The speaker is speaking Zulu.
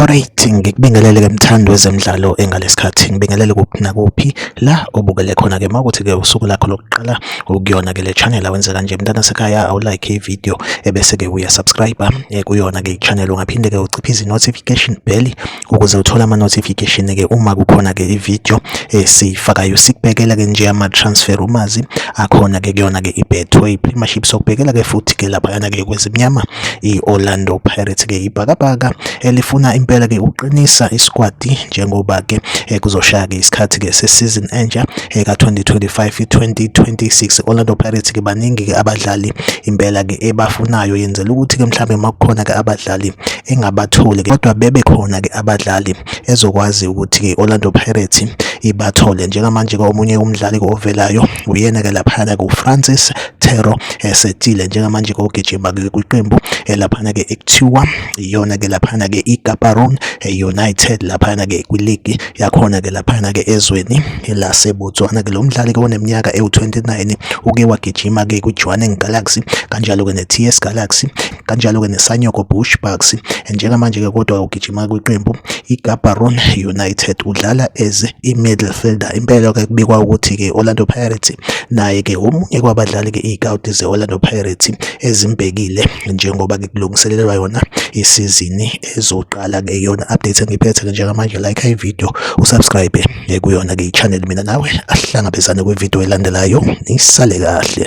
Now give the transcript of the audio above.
Alright, ngikubingelele ke mthandi wezemidlalo engalesikhathi ngibingelele kuphi nakuphi la obukele khona ke mawukuthi ke usuku lakho lokuqala ukuyona ke le channel awenze kanje mntana sekhaya awu like i video ebese ke uya subscribe eh, kuyona ke channel ungaphinde ke uciphe izi notification bell ukuze uthole ama notification ke uma kukhona ke i video esifakayo eh, sikubhekela ke nje ama transfer umazi akhona ke kuyona ke i betway premiership sokubhekela ke futhi ke lapha yana ke kwezimnyama i-Orlando Pirates ke ibhakabhaka elifuna impela ke ukuqinisa isikwadi njengoba ke eh, kuzoshaya ke isikhathi ke sesizini entsha eh, ka-2025 2026 Orlando Pirates ke baningi ke abadlali impela ke ebafunayo yenzela ukuthi ke mhlawumbe makukhona ke abadlali engabatholi kodwa bebe khona ke abadlali ezokwazi ukuthi ke Orlando Pirates ibathole njengamanje ke omunye umdlali ovelayo Uyena-ke laphana kuFrancis Terro esetile njengamanje kogijima kwiqembu elaphana-ke ekuthiwa iyona-ke laphana-ke iGaborone United laphana-ke kwiligi yakhona-ke laphana-ke ezweni laseBotswana-ke lo mdlali-ke oneminyaka ewu-29 uke wagijima-ke kwiJwaneng Galaxy kanjalo-ke neTS Galaxy kanjalo-ke neSanyoko Bushbucks. Njengamanje-ke kodwa ugijima kwiqembu iGaborone United, udlala as i-midfielder. Impela-ke kubikwa ukuthi-ke i-Orlando Pirates naye-ke omunye kwabadlali-ke iy'kawuti ze-Orlando Pirates ezimbhekile njengoba-ke kulungiselelwa yona isizini ezoqala-ke yona update engiphethe-ke njengamanje like ividiyo usubscribe kuyona-ke i-channel mina nawe ahlangabezane kwividiyo elandelayo nisale kahle